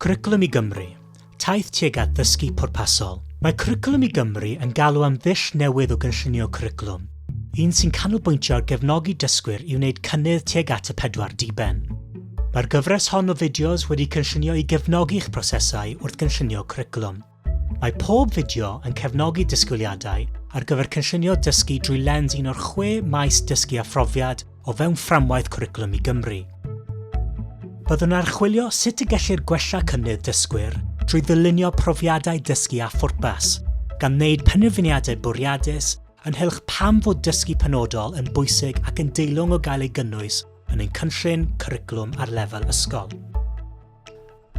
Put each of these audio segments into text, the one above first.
Cwricwlwm i Gymru, Taith tuag at ddysgu pwrpasol. Mae Cwricwlwm i Gymru yn galw am ddull newydd o gynllunio cwricwlwm, un sy'n canolbwyntio ar gefnogi dysgwyr i wneud cynnydd tuag at y pedwar diben. Mae'r gyfres hon o fideos wedi cynllunio i gefnogi eich prosesau wrth gynllunio cwricwlwm. Mae pob fideo yn cefnogi disgwyliadau ar gyfer cynllunio dysgu drwy lens un o'r chwe maes dysgu a phrofiad o fewn fframwaith Cwricwlwm i Gymru. Byddwn yn archwilio sut y gellir gwella cynnydd dysgwyr drwy ddylunio profiadau dysgu â phwrpas, gan wneud penderfyniadau bwriadus ynghylch pam fod dysgu penodol yn bwysig ac yn deilwng o gael ei gynnwys yn ein cynllun cwricwlwm ar lefel ysgol.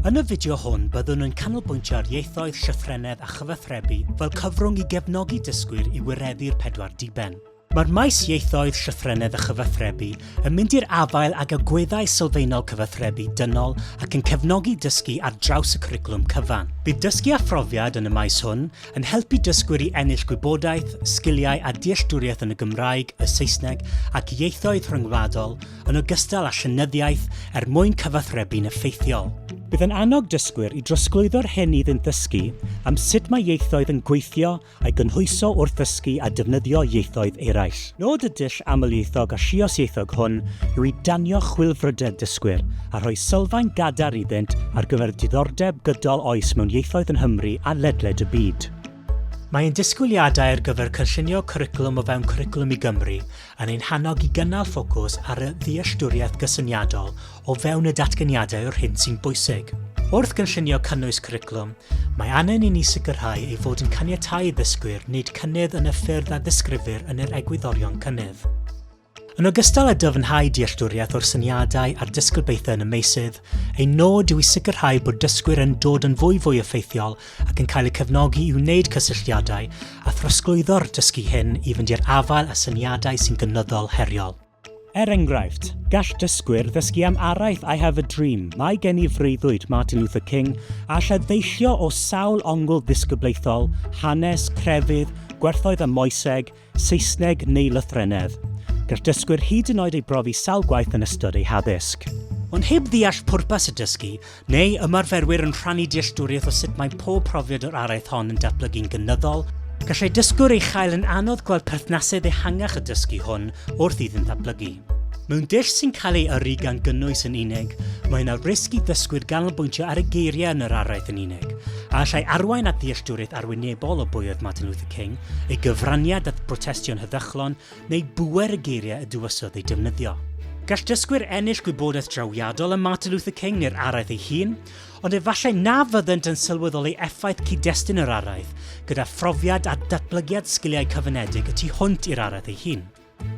Yn y fideo hwn byddwn yn canolbwyntio ar ieithoedd, llythrennedd a chyfathrebu fel cyfrwng i gefnogi dysgwyr i wireddu'r pedwar diben. Mae'r maes ieithoedd, llythrennedd a chyfathrebu yn mynd i'r afael ag agweddau sylfaenol cyfathrebu dynol ac yn cefnogi dysgu ar draws y cwricwlwm cyfan. Bydd dysgu a phrofiad yn y maes hwn yn helpu dysgwyr i ennill gwybodaeth, sgiliau a dealltwriaeth yn y Gymraeg, y Saesneg ac ieithoedd rhyngwladol yn ogystal â llenyddiaeth er mwyn cyfathrebu'n effeithiol. Bydd yn annog dysgwyr i drosglwyddo'r hyn iddynt ddysgu am sut mae ieithoedd yn gweithio a'i gynhwyso wrth ddysgu a defnyddio ieithoedd eraill. Nod y dull amlieithog a lliosieithog hwn yw i danio chwilfrydedd dysgwyr a rhoi sylfaen gadarn iddynt ar gyfer diddordeb gydol oes mewn ieithoedd yn Nghymru a ledled y byd. Mae ein disgwyliadau ar gyfer cynllunio cwricwlwm o fewn Cwricwlwm i Gymru yn ein hannog i gynnal ffocws ar y ddealltwriaeth gysyniadol o fewn y datganiadau o'r hyn sy'n bwysig. Wrth gynllunio cynnwys cwricwlwm, mae angen i ni sicrhau ei fod yn caniatáu i ddysgwyr wneud cynnydd yn y ffyrdd a ddisgrifir yn yr egwyddorion cynnydd. Yn ogystal â dyfnhau dealltwriaeth o'r syniadau a'r disgyblaethau yn y meysydd, ein nod yw i sicrhau bod dysgwyr yn dod yn fwyfwy effeithiol ac yn cael eu cefnogi i wneud cysylltiadau a throsglwyddo'r dysgu hyn i fynd i'r afael â syniadau sy'n gynyddol heriol. Er enghraifft, gall dysgwyr ddysgu am araith I Have a Dream, Mae Gen I Freuddwyd, Martin Luther King, a allai ddeillio o sawl ongl ddisgyblaethol, hanes, crefydd, gwerthoedd a moeseg, Saesneg neu lythrennedd. Gall dysgwyr hyd yn oed ei brofi sawl gwaith yn ystod eu haddysg. Ond heb ddeall pwrpas y dysgu, neu ymarferwyr yn rhannu dealltwriaeth o sut mae pob profiad o'r araith hon yn datblygu'n gynyddol, gallai dysgwr ei chael yn anodd gweld perthnasedd ehangach y dysgu hwn wrth iddynt ddatblygu. Mewn dull sy'n cael ei yrru gan gynnwys yn unig, mae yna risg i ddysgwyr ganolbwyntio ar y geiriau yn yr araith yn unig, a allai arwain at ddealltwriaeth arwynebol o bwy oedd Martin Luther King, ei gyfraniad at brotestio'n heddychlon, neu bŵer y geiriau y dywysodd eu defnyddio. Gall dysgwyr ennill gwybodaeth drawiadol am Martin Luther King neu'r araith ei hun, ond efallai na fyddent yn sylweddoli effaith cyd-destun yr araith, gyda phrofiad a datblygiad sgiliau cyfynedig y tu hwnt i'r araith ei hun.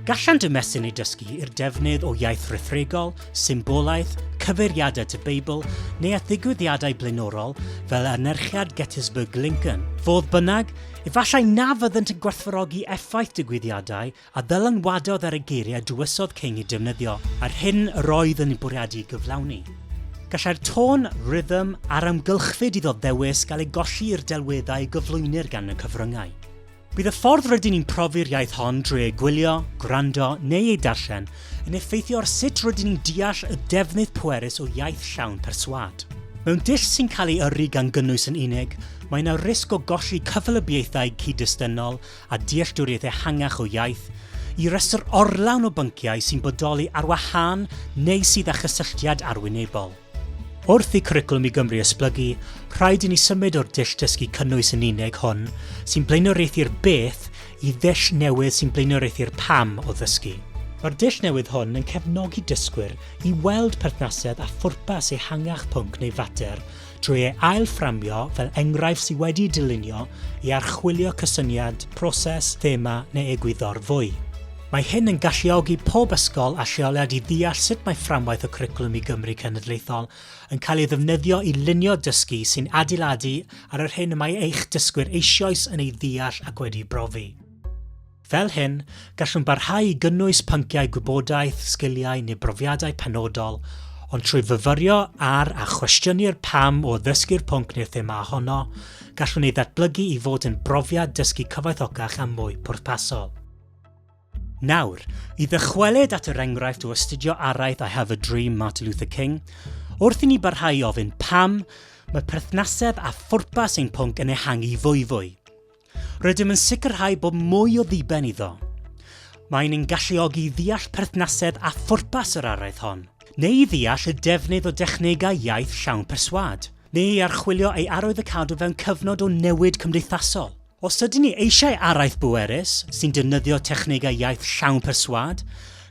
Gallant ymestyn eu dysgu i'r defnydd o iaith rhethregol, symbolaeth, cyfeiriadau at y Beibl, neu at ddigwyddiadau blaenorol fel anerchiad Gettysburg Lincoln. Fodd bynnag, efallai na fyddant yn gwerthfawrogi effaith digwyddiadau a ddylanwadodd ar y geiriau y dywesodd King eu defnyddio a'r hyn yr oedd yn eu bwriadu ei gyflawni. Gallai'r tôn, rhythm, a'r amgylchfyd iddo ddewis gael ei golli i'r delweddau y gyflwynir gan y cyfryngau. Bydd y ffordd rydyn ni'n profi'r iaith hon drwy ei gwylio, gwrando neu ei darllen yn effeithio ar sut rydyn ni'n deall y defnydd pwerus o iaith llawn perswâd. Mewn dull sy'n cael ei yrru gan gynnwys yn unig, mae yna risg o golli cyfylybiaethau cyd-destynol a dealltwriaeth ehangach o iaith, i restr orlawn o bynciau sy'n bodoli ar wahân neu sydd â chysylltiad arwynebol. Wrth i Cwricwlwm i Gymru esblygu, rhaid i ni symud o'r dull dysgu cynnwys yn unig hwn sy'n blaenoriaethu'r beth i ddull newydd sy'n blaenoriaethu'r pam o ddysgu. Mae'r dull newydd hwn yn cefnogi dysgwyr i weld perthnasedd a phwrpas ehangach pwnc neu fater drwy ei ail-fframio fel enghraifft sydd wedi'i dylunio i archwilio cysyniad, proses, thema neu egwyddor fwy. Mae hyn yn galluogi pob ysgol a lleoliad i ddeall sut mae fframwaith y Cwricwlwm i Gymru Cenedlaethol yn cael ei ddefnyddio i lunio dysgu sy'n adeiladu ar yr hyn y mae eich dysgwyr eisioes yn ei ddeall ac wedi'i brofi. Fel hyn, gallwn barhau i gynnwys pynciau gwybodaeth, sgiliau neu brofiadau penodol, ond trwy fyfyrio ar a chwestiynu'r pam o ddysgu'r pwnc neu'r thema ohono, gallwn ei ddatblygu i fod yn brofiad dysgu cyfoethocach a mwy pwrpasol. Nawr, i ddychwelyd at yr enghraifft o astudio araith I Have a Dream Martin Luther King, wrth i ni barhau i ofyn pam, mae perthnasedd a phwrpas ein pwnc yn ehangu fwyfwy. Rydym yn sicrhau bod mwy o ddiben iddo. Mae'n ein galluogi i ddeall perthnasedd a phwrpas yr araith hon, neu i ddeall y defnydd o dechnegau iaith llawn perswad, neu i archwilio ei arwydd y cadw fewn cyfnod o newid cymdeithasol. Os ydyn ni eisiau araith bwerus sy'n defnyddio technegau iaith llawn perswâd,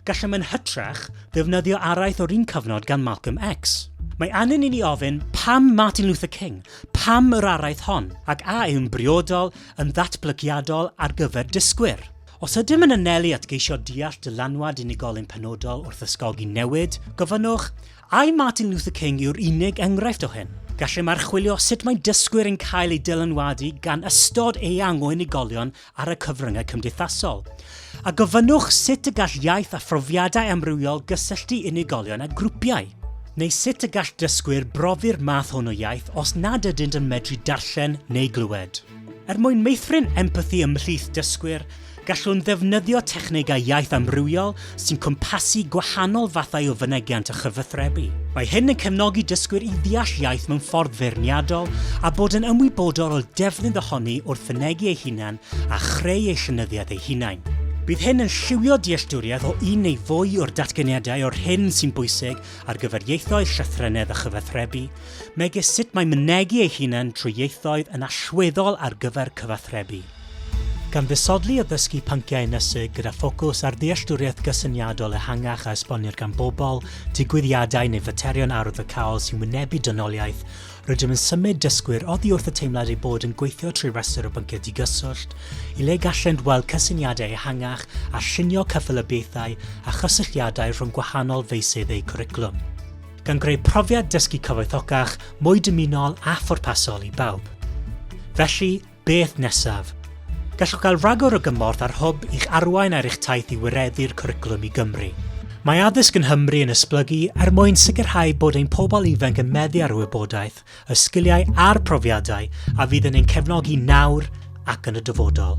gallem yn hytrach ddefnyddio araith o'r un cyfnod gan Malcolm X. Mae angen i ni ofyn, pam Martin Luther King? Pam yr araith hon? Ac a yw'n briodol, yn ddatblygiadol ar gyfer dysgwyr? Os ydym yn anelu at geisio deall dylanwad unigolyn penodol wrth ysgogi newid, gofynnwch, Ai Martin Luther King yw'r unig enghraifft o hyn? Gallem archwilio sut mae dysgwyr yn cael eu dylanwadu gan ystod eang o unigolion ar y cyfryngau cymdeithasol. A gofynnwch sut y gall iaith a phrofiadau amrywiol gysylltu unigolion a grwpiau. Neu sut y gall dysgwyr brofi'r math hwn o iaith os nad ydynt yn medru darllen neu glywed. Er mwyn meithrin empathi ymhlith dysgwyr, Gallwn ddefnyddio technegau iaith amrywiol sy'n cwmpasu gwahanol fathau o fynegiant a chyfathrebu. Mae hyn yn cefnogi dysgwyr i ddeall iaith mewn ffordd feirniadol a bod yn ymwybodol o defnydd ohoni wrth fynegi eu hunain a chreu eu llenyddiaeth eu hunain. Bydd hyn yn lliwio dealltwriaeth o un neu fwy o'r datganiadau o'r hyn sy'n bwysig ar gyfer ieithoedd, llythrennedd a chyfathrebu, megis sut mae mynegi eu hunain trwy ieithoedd yn allweddol ar gyfer cyfathrebu. Gan ddisodli a dysgu pynciau ynysig gyda ffocws ar ddealltwriaeth gysyniadol ehangach a esbonir gan bobl, digwyddiadau neu faterion arwyddocaol sy'n wynebu dynoliaeth, rydym yn symud dysgwyr oddi wrth y teimlad eu bod yn gweithio trwy restr o bynciau digyswllt, i le gallent weld cysyniadau ehangach a llunio cyffelybiaethau a chysylltiadau rhwng gwahanol feysydd eu cwricwlwm. Gan greu profiad dysgu cyfoethocach, mwy dymunol a phwrpasol i bawb. Felly, Beth nesaf? Gallwch gael rhagor o gymorth a'r hwb i'ch arwain ar eich taith i wireddu'r cwricwlwm i Gymru. Mae addysg yn Nghymru yn esblygu er mwyn sicrhau bod ein pobl ifanc yn meddu ar y wybodaeth, y sgiliau a'r profiadau a fydd yn ein cefnogi nawr ac yn y dyfodol.